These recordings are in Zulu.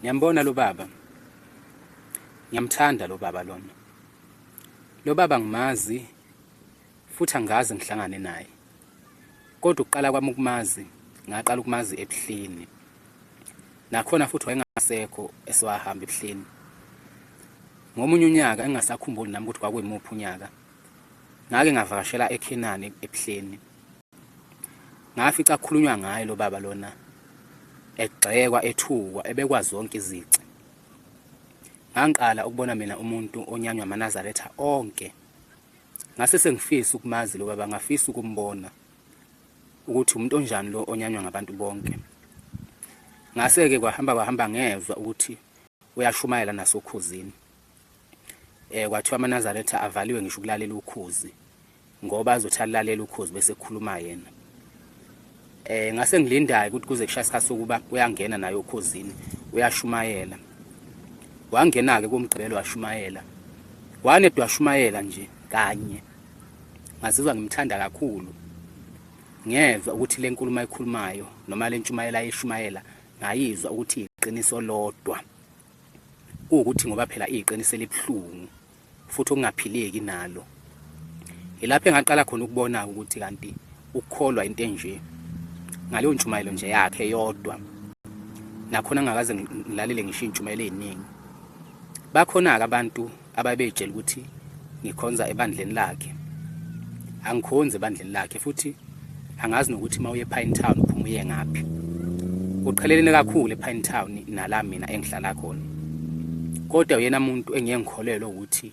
Ngiyambona lo baba. Ngiyamthanda lo baba lona. Lo baba ngimazi futhi angazi ngihlangane naye. Kodwa uqala kwami ukumazi, ngaqala ukumazi ebuhleni. Nakhona futhi wayengasekho esiwahamba ebuhleni. Ngomunye unyaka engasakhumbuli nami ukuthi kwakuyimuphi unyaka. Ngake ngavakashela eKhenani ebuhleni. ngafica kukhulunywa ngaye lo baba lona egxekwa ethukwa ebekwa zonke izici ngangiqala ukubona mina umuntu onyanywa amanazaretha onke ngase sengifisa ukumazi lo baba ngafisa ukumbona ukuthi umuntu onjani lo onyanywa ngabantu bonke ngase-ke kwahamba kwahamba ngezwa ukuthi uyashumayela nasokhuzini eh kwathiwa amaNazaretha avaliwe ngisho ukulalela ukhozi ngoba azothi alalela ukhozi bese ekhuluma yena eh ngase ngilindayo ukuthi kuze kushaya isikhathi sokuba uyangena naye okhozini uyashumayela wangena ke kumgqibelo washumayela wane dwashumayela nje kanye ngazizwa ngimthanda kakhulu ngezwa ukuthi le nkulumo ayikhulumayo noma le ntshumayela ayishumayela ngayizwa ukuthi iqiniso lodwa kuwukuthi ngoba phela iyiqiniso elibuhlungu futhi okungaphileki nalo yilapho engaqala khona ukubona ukuthi kanti ukukholwa into enje ngaleyo ntshumayelo nje yakhe yodwa nakhona ngakaze ngilalele ngisho iy'ntshumayelo ey'ningi bakhona-ke abantu ababeyitshela ukuthi ngikhonza ebandleni lakhe angikhonzi ebandleni lakhe futhi angazi nokuthi uma uye Pine Town uphuma uye ngaphi uqhelelene kakhulu ePine Town nala mina engihlala khona kodwa uyena muntu engiye ngikholelwe ukuthi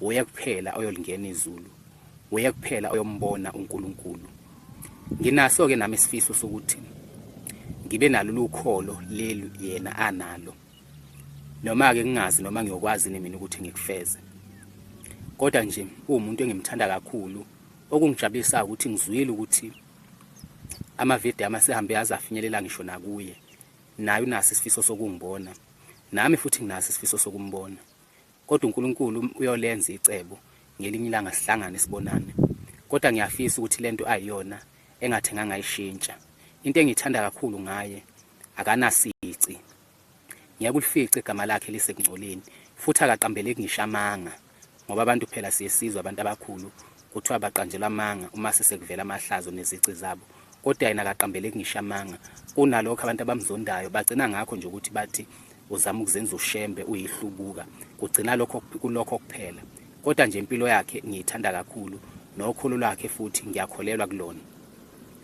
uye kuphela oyolingena izulu uye kuphela oyombona uNkulunkulu nginaso ke nami isifiso sokuthi ngibe nalolu kholo leli yena analo noma-ke kungazi noma ngiyokwazi nini mina ukuthi ngikufeze kodwa nje uwumuntu engimthanda kakhulu okungijabulisayo ukuthi ngizwile ukuthi amavidiyo ama sehambe aze afinyelela ngisho nakuye naye unaso isifiso sokungibona nami futhi nginaso isifiso sokumbona kodwa uNkulunkulu uyolenza icebo ngelinye ilanga sihlangane sibonane kodwa ngiyafisa ukuthi lento ayiyona engathenganga ishintsha into engiyithanda kakhulu ngaye akanasici Ngeke ulifice igama lakhe lisekungcoleni futhi akaqambeleki ngisho amanga ngoba abantu phela siye sizwe abantu abakhulu kuthiwa baqanjelwa amanga uma sesekuvela amahlazo nezici zabo kodwa yena akaqambeleki ngisho amanga kunalokho abantu abamzondayo bagcina ngakho nje ukuthi bathi uzama ukuzenza ushembe uyihlubuka kugcina lokho kulokho kuphela kodwa nje impilo yakhe ngiyithanda kakhulu nokholo lwakhe futhi ngiyakholelwa kulona